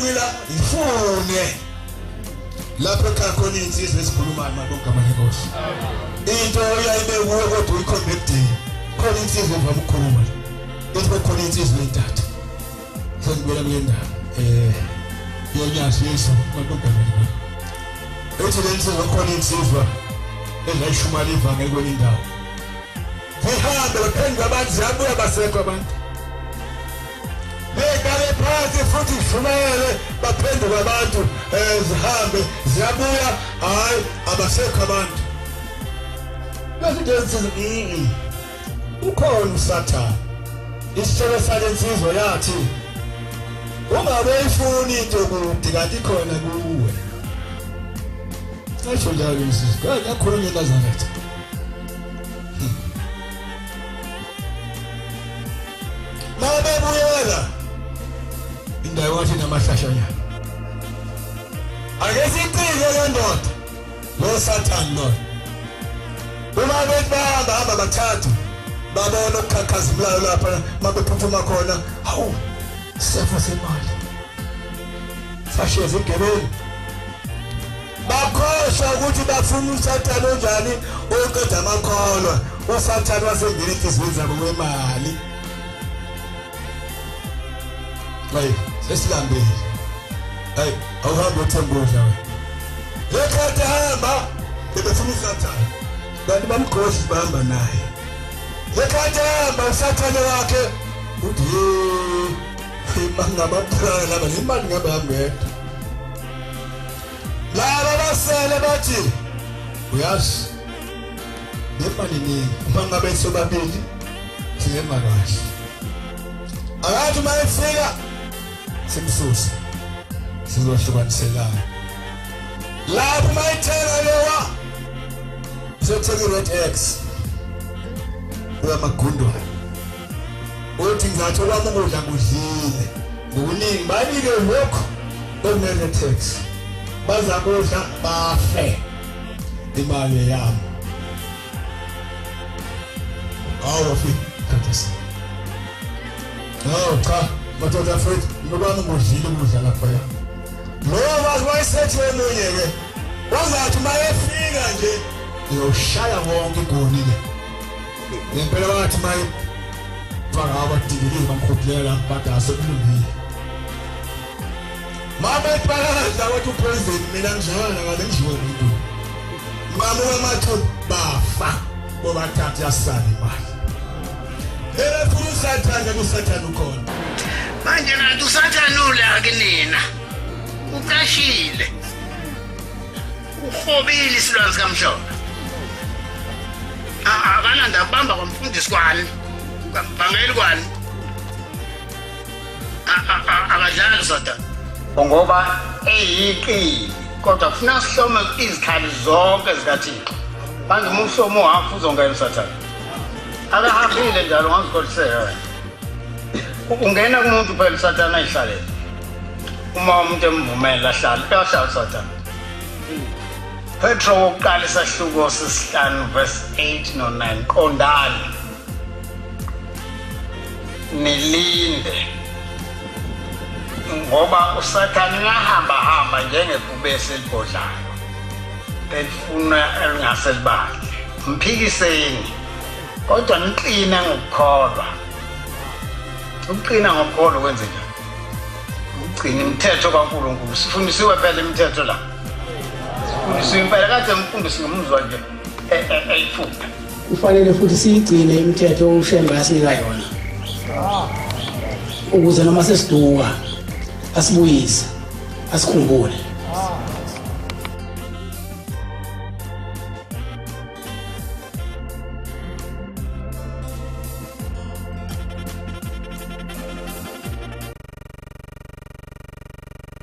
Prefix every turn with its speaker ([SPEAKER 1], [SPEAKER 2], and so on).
[SPEAKER 1] kulula ngifune lapho ekhakhona iy'nsizwa ezikhulumayo malonke amanenkosi into oyayibe kuwe kodwa uyikhombe ekudeni khona insizwa evama ukukhuluma into khona insizwa entatha Sengibuyela kule ndawo eh yonyazisa madodana ethi lenze wakhona insizwa ezayishumana ivangeli kwenye indawo zihambe baphendula abantu ziyabuya basekho abantu bekale phansi futhi shumele baphenduka abantu um zihambe ziyabuya hhayi abasekho abantu bezinto ezithi ukhona usathane isitshelo sale nsizwa yathi ungabe ifuni into kude kanti khona kuwe cisho njalo insizwa kade akhulume enazaretha hmm. mabebuyela indawo wathi namahlashanyana ake siqike le ndoda lo sathane lona uma bethi bahamba hamba bathathu babona ukukhakhazilayo lapha mabephuthuma khona hawu sefo semali sasheza igebeni bakhohlwa ukuthi bafuna usathane onjani oqeda amakholwa usathane wasengena enhliziyweni zabo wemali Hey, sesilambile. Hey, awuhambi uthemba udla wena. Yekhathi hamba. Bebefuna usathane. Kanti bamghoshi bahamba naye. Yekhathi hamba usathane wakhe. Uthi imali ngamaphara laba nemali ngabe hambedwa. Laba basele bathi uyazi nefanini uma ngabe sobabili sihamba kahle akathi uma efika simsuse sizohlukaniselana lapho uma ethenga lowa sothenga i-red x uyamagundwana uthi ngizatho kwami ukudla kudlile ngokuningi banike lokhu okuneretex bazakudla bafe imali yami awu wafika khathesi awu cha madoda mfethu nobani ngudlile ukudla lapha ya lowo wazi wayesethi omunye-ke wazathi uma efika nje uyoshaya wonke igonile ngempela wathi uma faka abadikilile bamkhudlela badase kulungile Mama ipalala wathi upresident mina ngizalana ngale njiwe umuntu. Mama wamathu bafa ngoba thatha yasala imali. Ebe funa usathane kusathane ukhona. Manje nathi usathane ula kunina. Ucashile. Uhobile isilwane sikamhlophe. Ah, ah, akananda kubamba kwamfundisi kwani. Kwambangeli kwani. akadlali soda ngoba eyiqili kodwa kufuna sihlome izikhali zonke zikathixo manje uma uhlome uhafu uzongena usathane akahambile njalo ngazikholiseka wena ungena kumuntu phela usathane ayihlalele uma umuntu emvumela ahlale uyahlala usathane Petro wokuqala isahluko sesihlanu verse 8 no 9 qondani nilinde ngoba usathane ngahamba hamba njengebhubesi elibhodlayo elifuna elingase libandle mphikiseni kodwa niqine ngokukholwa ukuqina ngokukholwa kwenze njani ukugcina imithetho kankulunkulu sifundisiwe phela imithetho la sifundisiwe impela kade ngimfundisi ngomuzwa nje eyifunda e, e, Kufanele
[SPEAKER 2] futhi siyigcine imithetho uShembe asinika yona ukuze noma sesiduka asibuyise asikhumbule